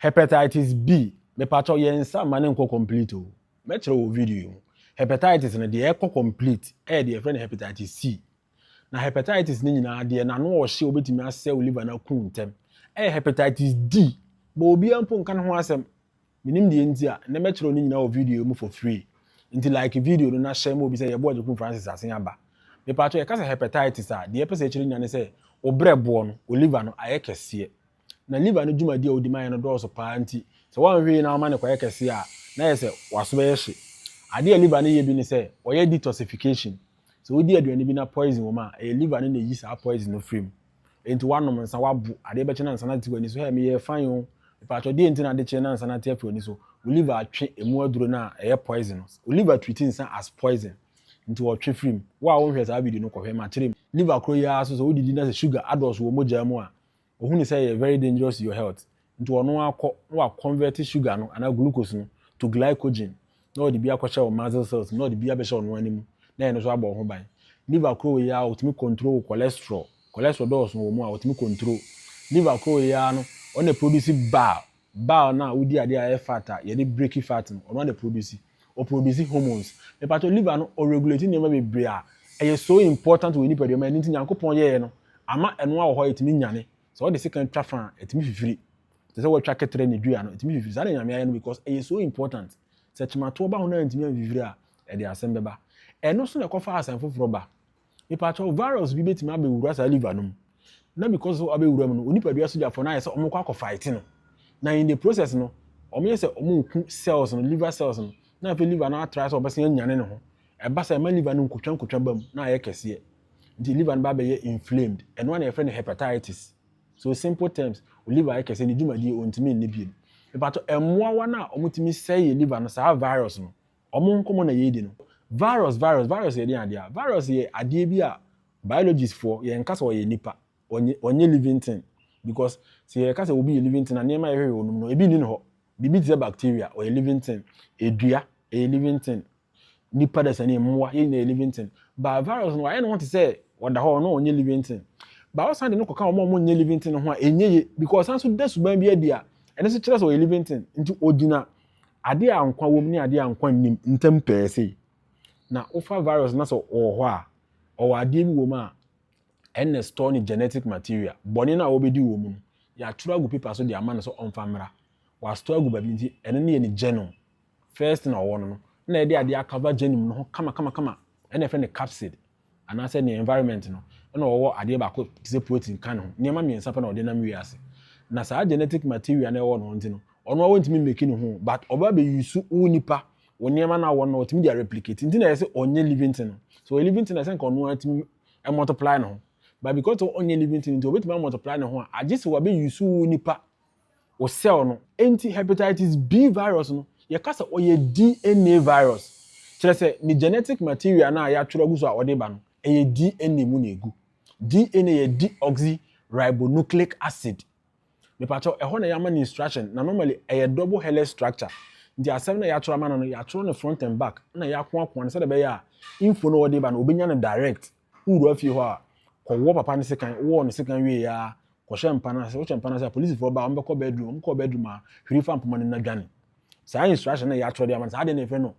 Hepatitis B, mepakyɛw yɛn nsa mma no nkɔ complete o. Mɛkyerɛ wɔ video yi mu. Hepatitis no, deɛ ɛkɔ complete yɛ deɛ yɛfrɛ no hepatitis C. Na hepatitis no nyinaa, deɛ n'ano a ɔhye a obetumi asɛe wo liver no aku ntɛm yɛ hepatitis D. But obiara mpo nka ne ho asɛm. Menim deɛ nti a, nnɛ mɛkyerɛw ne nyinaa wɔ video yi mu for free. Nti like video no na share ma obi sɛ yɛbɔ Agyekum Francis asen aba. Mepakyɛw yɛka sɛ hepatitis a, deɛ ɛpɛ sɛ ɛkyerɛ nyinaa ne sɛ wo brɛ boɔ no, wo liver no, ayɛ kɛseɛ. Ná liver no dwumadi a odi ma yɛn no dɔɔso paa nti, sɛ wanhwɛ yie na wama no kɔyɛ kɛse a, na ayɛ sɛ w'aso bɛyɛ hye. Ade a liver no yɛ bi ne sɛ, wɔyɛ detoxification. Sɛ wodi aduane bi na poison wom a, ɛyɛ liver no na eyi saa poison no firi mu. Enti woanom nsa, woabo, adeɛ bɛkye na nsa no ate w'ani so. Hɛ, meyɛɛ fine o. Mepaatwɔ, deɛn nti na ade kye na nsa no ate afi w'ani so? Wo liver atwe emu aduro no a ɛyɛ poison no. Wo liver treat nsa as poison, nti ɔretwe firi mu. Wo a wonhwɛɛ saa video no, kɔhwɛ. Makyere mu. Liver koro yi ara nso, sɛ wodidi na sɛ sugar adɔɔso wɔ mogyaa mu a, Ohu no sɛ ɛyɛ very dangerous to your health nti ɔno ara kɔ na wa convert sugar no anaa glucose no to glycogen na ɔde bi akɔhyɛ wo muscle cells mu na ɔde bi abɛhyɛ wo noa no mu na ɛno nso abɔ wo ho ban. Liver koro wei ara ɔtumi control wo cholesterol, cholesterol dɔɔso wɔ mu a ɔtumi control. Liver koro wei ara no ɔno na ɛproduce bile Bal no a wodi ade a ɛyɛ fat a yɛde breki fat no, ɔno ara na ɛprodusi. Ɔprodusi hormones. Mepakyɛw, liver no, ɔregulate nneɛma bebree a ɛyɛ so important wɔ nipadua mu a ɛno nti Nyankopɔn yɛeɛ no, ama ɛno ara wɔ hɔ a ɛtumi nyane. Sɛ wɔde sekan twa fã a, ɛtumi fifiri. Te sɛ wɔatwa kɛtrɛ ne dua no, ɛtumi fifiri. Saa na Nyame ayɛ no because ɛyɛ so important. Sɛ kyematoɔ ba ho na antumi amfifiri a, ɛde asɛm bɛba. Ɛno so na ɛkɔfa asɛm foforɔ ba. Mepakyɛw, virus bi betumi abewura saa liver no mu, na because of abewura mu no, wo nipadua sogyafo no ayɛ sɛ wɔrekɔ akɔ fight no, na in the process no, wɔyɛ sɛ wɔreku cells no, liver cells no, na afei liver no atry sɛ ɔbɛsan anyane ne ho. Ɛba saa, ɛma liver no nkotwankotwa ba mu, na ayɛ kɛseɛ. Nti liver no ba abɛyɛ inflamed. Ɛno ara na yɛfrɛ no hepatitis. So simple terms, wo liver ayɛ kɛseɛ, ne dwumadie, wɔntumi nni bio. Mepakyɛw, mmoawa no a wɔtumi sɛe yɛ liver no, saa virus no, Wɔn nkɔmmɔ na yɛredi no. Virus, virus, virus yɛ deɛn adeɛ a? Virus yɛ adeɛ bi a biologist foɔ, yɛnka sɛ ɔyɛ nipa, ɔnyɛ, ɔnyɛ living thing. Because sɛ yɛka sɛ obi yɛ living thing a, nneɛma a yɛhwehwɛ wɔ ne mu no, ebi nni ne hɔ. Biribi te sɛ bacteria, ɔyɛ living thing. Dua, ɛyɛ living thing. Nipa dasani, mmoa, yɛn nyinaa yɛ living thing. But virus no, wayɛ ne ho te sɛ ɔda hɔ, ɔno ɔnyɛ living thing. But wosan de no kɔka wɔn a wɔnyɛ living thing no ho a, ɛnyɛ yie. Because ɔsan nso da suban bi adi a, ɛno nso kyerɛ sɛ ɔyɛ living thing. Nti ogyina Adeɛ a nkwa wom ne adeɛ a nkwa nnim ntam pɛɛ sei. Na wofa virus na sɛ ɔwɔ hɔ a, ɔwɔ adeɛ bi wɔ mu a ɛnna store ne genetic material. Bɔne no a wɔbɛdi wɔ mu no, yɛatwerɛ agu paper so de ama no sɛ ɔmfa mmra. Wɔastore agu baabi nti, ɛno no yɛ ne genome. First na ɔwɔ no no, ɛnna yɛde adeɛ akava genome no ho kamakamakama, ɛnna yɛfrɛ no capsid. anaasɛ nea environment no na ɔwɔ adeɛ baako te sɛ protein ka ne ho, nneɛma mmiɛnsa pɛ na ɔde nam wiase. Na saa genetic material no a ɛwɔ ne ho nti no, ɔno ara ɔntumi mmeki ne ho o, but ɔba bɛ use wo nipa, wo nneɛma no a ɔwɔ no na ɔtumi de areplicate. Nti na yɛse ɔnyɛ living thing no. Sɛ ɔyɛ living thing na ɛsɛ nka ɔno ara tumi multiply ne ho. But because ɔnyɛ living thing nti ɔbɛtumi amultiply ne ho a, agye sɛ wabɛ use wo nipa. wo cell no. Enti hepatitis B virus no, yɛka sɛ ɔyɛ DNA virus, kyerɛ sɛ ne genetic material no a yɛatwerɛ agu so a ɔde ba no, ɛyɛ DNA mu na ɛgu. DNA yɛ deoxyribonucleic acid. Mepakyɛw, ɛhɔ na yɛama no instruction, na normally ɛyɛ double helix structure. Nti asɛm no a yɛatwerɛ ama no no, yɛatwerɛ no front and back, ɛnna yɛakoakoa no sɛdeɛ ɛbɛyɛ a info no a ɔde ba no, ɔbɛnya no direct. Wowura fie hɔ a, kɔwɔ papa no sekan. Wowɔ no sekan wie ara, kɔhyɛ mpa no ase. Wohyɛ mpa no ase a, polisifoɔ ba a, wɔbɛkɔ bedroom. Wɔkɔ bedroom a, hwiri fa mpoma no mu na dwane. Saa instruction no a yɛatwerɛ de ama no, saa adeɛ no na yɛfrɛ no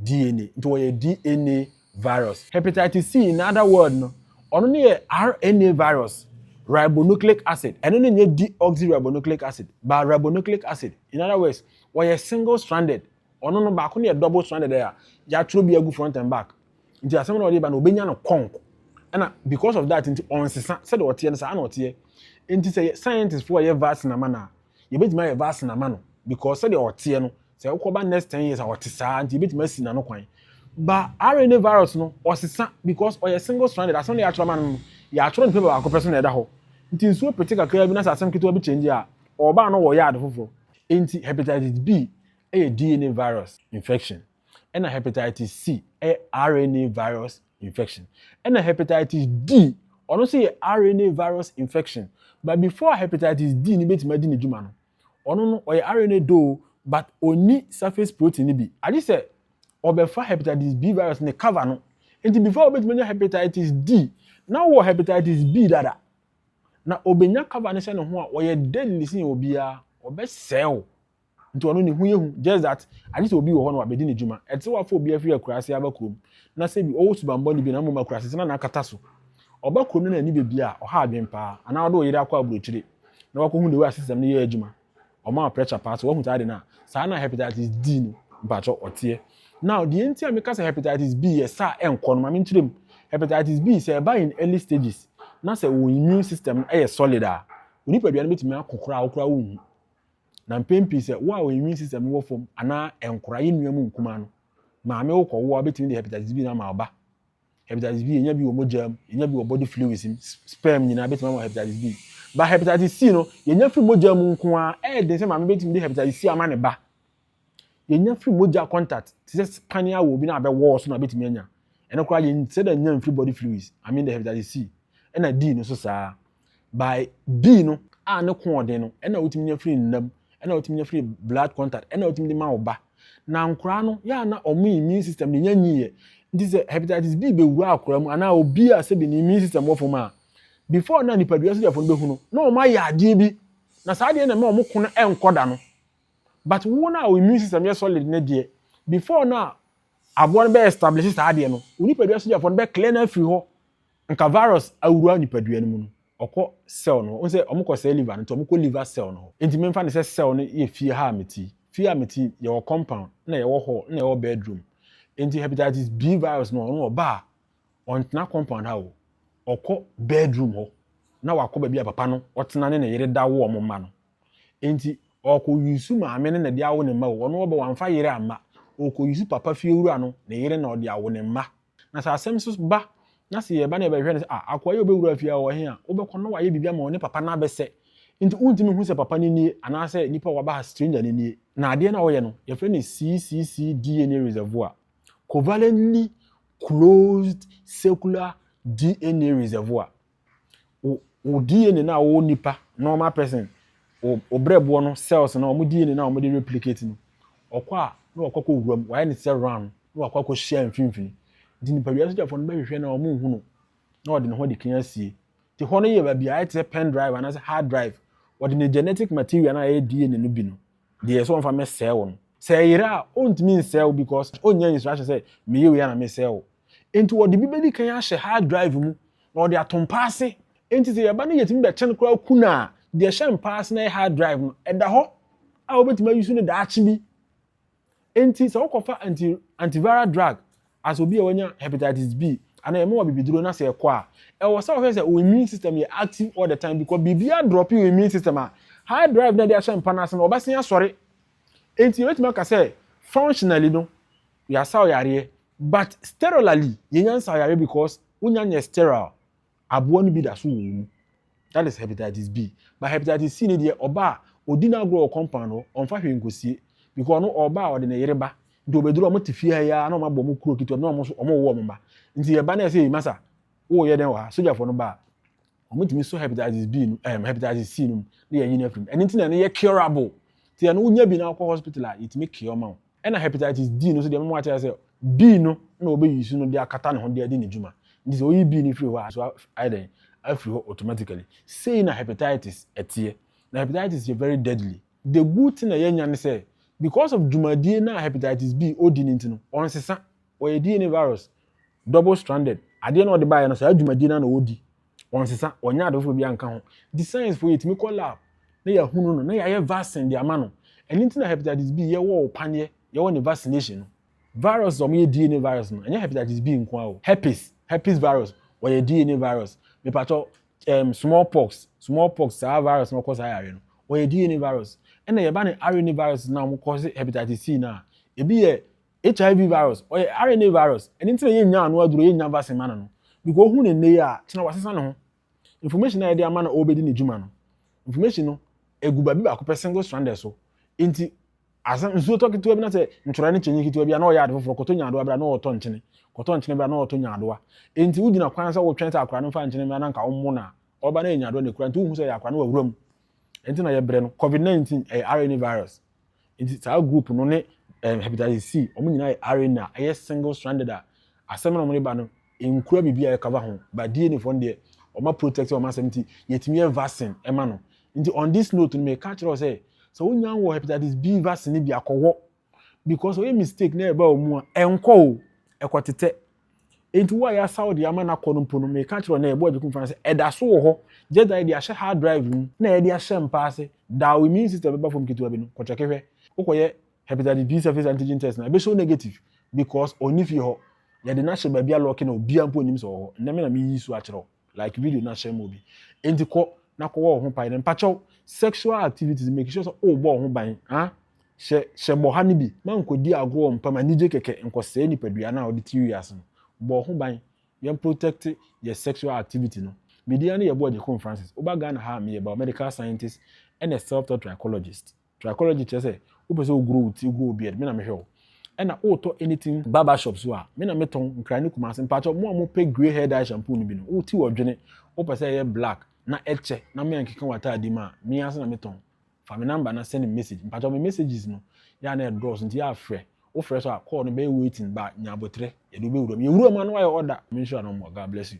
DNA. Nti wɔyɛ DNA virus. Hepatitis C, in other word no, ɔno no yɛ RNA virus, ribonucleic acid. Ɛno no nyɛ deoxyribonucleic acid, but ribonucleic acid. In other words, wɔyɛ single stranded Ɔno no baako no yɛ double stranded a yɛatwerɛ bi agu front and back nti asɛm no a ɔde ba no ɔbɛnya no kɔnk ɛna because of that nti ɔnsesa sɛdeɛ ɔteɛ no saa na ɔteɛ nti sɛ scientist foɔ yɛ vaccine ama no a yɛbɛtumi ayɛ vaccine ama no because sɛdeɛ ɔteɛ no sɛ wokɔba next ten years a ɔte saa nti yɛbɛtumi asi n'ano kwan ba RNA virus no ɔsesa because ɔyɛ single stranded asɛm no yɛatwerɛ ama no no yɛatwerɛ no paper baako pɛ so na ɛda hɔ nti nsuo pete kakraa bi na sɛ asɛm ketewa bi change a ɔbaa no wɔ yɛ ade foforɔ nti hepatitis B yɛ DNA virus infection, ɛnna hepatitis C yɛ RNA virus infection, ɛnna hepatitis D, ɔno nso yɛ RNA virus infection. But before hepatitis D no betumi adi n'adwuma no, ɔno no ɔyɛ RNA doo but onni surface protein no bi. Agye sɛ ɔbɛfa hepatitis B virus ne cover no. Nti before wobetumi anya hepatitis D, na wowɔ hepatitis B dada. Na obenya cover no hyɛ ne ho a, ɔyɛ deadly sen obiara, ɔbɛsɛe wo. Nti ɔno ne ho yɛ hu just that agye sɛ obi wɔ hɔ na wabɛdi n'adwuma. Ɛte sɛ woafa obi afiri akuraase aba kurom na sɛ bi ɔwɔ subammɔne bi na mmom akuraase sɛ na n'akata so. Ɔba kurom no na ani bɛ bia, ɔha adwene paa. Anaa wode wo yere akɔ aburokyire na woakɔhu the way a system no yɛ adwuma. Ɔma wo pressure paa. Sɛ woahu saa ade no a, saa na hepatitis D no mpakyɛw ɔteɛ. Now deɛ nti a meka sɛ hepatitis B yɛ sa a ɛnkɔ no ma menkyerɛ mu. Hepatitis B sɛ ɛba in early stages na sɛ wo immune system no yɛ solid a, wo nipadua no bɛtumi ako koraa a wo koraa wonhu. Na mpɛn pii sɛ wo a wo immune system no wɔ fam anaa nkora yɛ nua mu nkumaa no, maame wo kɔwo a wobɛtumi de hepatitis B no ama ɔba. Hepatitis B yɛnya bi wɔ mogya mu, yɛnya bi wɔ body fluids mu, sperm nyinaa bɛtumi ama hepatitis B. Ba hepatitis C no yɛnya firi mogya mu nko ara, ɛyɛ den sɛ maame bɛtumi de hepatitis C ama ne ba. Yenya firi mogya contact te sɛ spine a obi na abɛ wall so na obetumi anya. Ɛno koraa yɛ sɛ dɛ nya mfiri body fluids, I mean the hepatitis C. Ɛna D no nso saa. By B no a ne ko ɔden no ɛna wotumi nya firi nna mu, ɛna wotumi nya firi blood contact, ɛna wotumi de ma wo ba. Na nkoraa no yɛ a na wɔn immune system no nya nyiiɛ. Nti sɛ hepatitis B bɛwura akoraa mu anaa obi a sɛbi ne immune system wɔ fam a, before na nipadua sogyafo no bɛhu no na wɔn ayɛ adeɛ bi na saa adeɛ no na ɛma wɔn ko no nkɔ da no. But wo no a wo immune system yɛ solid no deɛ, before no a aboa no bɛ establish saa adeɛ no, wo nipadua sogyafoɔ no bɛ clear no afiri hɔ. Nka virus awura nipadua no mu no, ɔkɔ cell no hɔ. Wohu sɛ wɔkɔ sɛe liver no, nti wɔkɔ liver cell no hɔ. Nti memfa no sɛ cell no yɛ fie ha a mete yi. Fie a mete yi, yɛwɔ compound, na yɛwɔ hall, na yɛwɔ bedroom. Nti hepatitis B virus no, ɔno ɔba a, ɔntena compound ha o, ɔkɔ bedroom hɔ, na wakɔ baabi a papa no ɔtena ne ne yere da wo wɔn mma no. Enti ɔkɔ yusu maame no na de awo ne mma o, ɔno ɔbɔ wamfa yere amma, ɔkɔ yusu papa fiewura no ne yere na ɔde awo ne mma. Na sɛ asɛm so ba na sɛ yɛba na yɛbɛhwɛ no sɛ ah akoa yi a ɔbɛwura fie ha ɔwɔ he a, wobɛkɔ na wayɛ biribi ama wo ne papa no abɛsɛ. Enti wontumi nhu sɛ papa no nie anaasɛ nipa a waba ha stranger no nie. Na adeɛ no a wɔyɛ no, yɛfrɛ no CCC DNA reservoir, Covalently Closed Circular DNA Reservoir. wo wo DNA no a wɔwɔ nipa normal person wo wo brɛboɔ no cells no wɔn DNA no a wɔde replicate no ɔkɔ a na wakɔ akɔ wura mu wayɛ ne sɛ round na wakɔ akɔ hyia mfimfini nti nipadua sogyafoɔ no bɛhwehwɛ na wɔn nhu no na wɔde ne ho de kan asie te hɔ no yɛ baabi a ayɛ te sɛ pen drive anaasɛ hard drive wɔde ne genetic material no a ɛyɛ DNA no bi no Deɛ sɛ ɔmfa mɛ sɛɛ wo no. Sɛ ɛyera a ɔntumi nsɛɛ wo because ɔnnya instruction sɛ meyɛ wei a na mesɛɛ wo. Nti ɔde bi bɛdi kan ahyɛ hard drive mu na ɔde ato mpa ase. Nti sɛ yɛba na yɛtumi bɛkyɛn koraa ku no a, deɛ ɛhyɛ mpa ase na ɛyɛ hard drive no ɛda hɔ a wobɛtumi ayusu no daakye bi. Enti sɛ wokɔfa anti antiviral drug as obi a wanya hepatitis B anaa yɛma wo abibiduro na sɛ ɛkɔ a, ɛwɔ sɛ wohwɛ sɛ wo immune system yɛ active all the time because biribiara drop wo immune system a, hard drive no a ɛde ahyɛ mpa no ase no wɔbɛsan asɔre. Enti yɛbɛtumi aka sɛ functionally no yɛasaw yareɛ but sterilely yɛnya nsaw yareɛ because wonya nyɛ sterile. aboa no bi da so wɔ wo mu. That is hepatitis B. But hepatitis C ne deɛ ɔba a ɔdi n'agorɔ wɔ compound hɔ, ɔmfa hwee nkɔsie. Because ɔno ɔba a ɔde ne yere ba. Nti ɔbɛduru a wɔte fie ha yi ara na wɔabɔ wɔn kuro ketewa bi na wɔn nso wɔwo wɔn mma. Nti yɛba na yɛsɛ yɛyi masa woreyɛ dɛn wɔ ha? Sogyafoɔ no ba a, wɔtumi sɔ hepatitis B no, ɛm, hepatitis C no mu na yɛyi no afiri mu. Ɛno nti na ɛno yɛ curable. Nti ɛno wonya bi na wokɔ hospital a, yɛtumi cure ma wo. Ɛna hepatitis D no nso deɛ mema wate aseɛ B no na wɔbɛ use no de akata ne ho de adi ne dwuma nti sɛ woyi B no firi hɔ a so ayɛ dɛn afiri hɔ automatically sei na hepatitis ɛteɛ na hepatitis yɛ very deadly the good thing a yɛnya ne sɛ because of dwumadie no a hepatitis B ɔdi no nti no ɔnsesa ɔyɛ DNA virus double stranded adeɛ na ɔde baeɛ no saa dwumadie no na ɔdi Wɔnsesa, wɔnyɛ ade foforɔ biara nka ho. Nti sciencefoɔ yɛtumi kɔ lab na yɛahunu no na yɛayɛ vaccine de ama no. Ɛno nti na hepatitis B yɛwɔ wo paneɛ, yɛwɔ ne vaccination no. Virus a wɔyɛ DNA virus no, ɛnyɛ hepatitis B nko ara o. Herpes, herpes virus, wɔyɛ DNA virus. Mepakyɛw, ɛɛm, small pox, small pox, saa virus no a ɔkɔ saa yareɛ no, wɔyɛ DNA virus. Ɛna yɛba ne RNA viruses no a wɔkɔ se hepatitis C no a, ebi yɛ HIV virus, ɔyɛ RNA virus, ɛno nti na yɛnnya ano aduro, yɛnnya vaccine ma no no. Because ohu no nnɛ yi a, kyena wasesa ne ho. Information a yɛde ama na ɔrebɛdi ne dwuma no, information no, egu baabi baako pɛ single stranded so. Nti, asɛm nsuo tɔ ketewa bi na sɛ ntwerɛ ne kyɛnyi ketewa bi a na ɔyɛ ade foforɔ, kɔtɔ nyaadoa berɛ a na ɔretɔ nkyene, kɔtɔ nkyene berɛ a na ɔretɔ nyaadoa. Nti wogyina kwan sɛ wotwɛn sɛ akwadaa no mfa nkyene mmra na nka ɔmmo no a, ɔba na ɛyɛ nyaadoa na ɛkura, nti wonhu sɛ ɛyɛ akwadaa no wawura mu. Ɛno nti na yɛbrɛ no. Covid-19, ɛyɛ RNA virus. Nti saa group no ne um, hepatitis C, wɔn nyinaa yɛ RNA, ɛyɛ single stranded a, asɛm na wɔn de ba no, nkura biribi a ɛkava ho, but DNA fɔ no deɛ, wɔn a protect wɔn asɛm nti, yɛtumi yɛ vaccine ɛma no. Nti on this note no, meka kyerɛ wo sɛ, sɛ wonya wɔ hepatitis B vaccine no bi a, kɔwɔ. Because wɔyɛ mistake na ɛba wɔn mu a, ɛnkɔ o, ɛkɔtetɛ. Enti wo a yɛasa wo de ama no akɔ no mpo no, meka kyerɛ wo nnɛ, yɛbɔɔ Agyekumfo no sɛ, ɛda so wɔ hɔ, just that yɛde ahyɛ hard drive mu na yɛde ahyɛ mpa ase, da a wo immune system bɛba fam ketewa bi no, kɔkyɛke hwɛ. Wokɔyɛ hepatitis B surface antigen test no a, ɛbɛhyɛ wo negative because ɔnni fie hɔ. Yɛde no ahyɛ baabi a lɔɔke na obiara mpo nnim sɛ ɔwɔ hɔ. Nnɛ me na meyi so akyerɛ wo. like video na share mo bi enti kɔ na kɔ wɔ ho pae na mpakyɛw sexual activities make sure sɛ o bɔ ho ban ah hyɛ hyɛ bɔ ha ne bi ma nkɔdi agorɔ mpam anigye kɛkɛ nkɔsɛe nipadua no a ɔde ti wiase no bɔ ho ban yɛn protect yɛ sexual activity no medin ne yɛ boɔ gyekon francis woba ghana ha a meyɛ biomedical scientist ɛna self taught trichologist Trichology kyerɛ sɛ wopɛ sɛ wo grow wo ti, wo grow wo beard, me na mehwɛ wo. Ɛna wotɔ anything barber shop so a, me na me tɔn, nkran ne kumase. Mpakyɛw, mo a mo pɛ grey hair dye shampoo no bi no, wo ti wɔ dwene, wo pɛ sɛ ɛyɛ black na ɛkyɛ na me ankeka wo ataade mu a, me ansa na me tɔn. Fa me number na send me message. Mpakyɛw, me messages no, yɛ a na ɛdɔɔso nti yɛ a frɛ. Wo frɛ so a, call no bɛyɛ waiting, ba nya aboterɛ, yɛde wo bɛwura mu. Yɛwura mu a na woayɛ order. Menhyira no mmɔ, God bless you.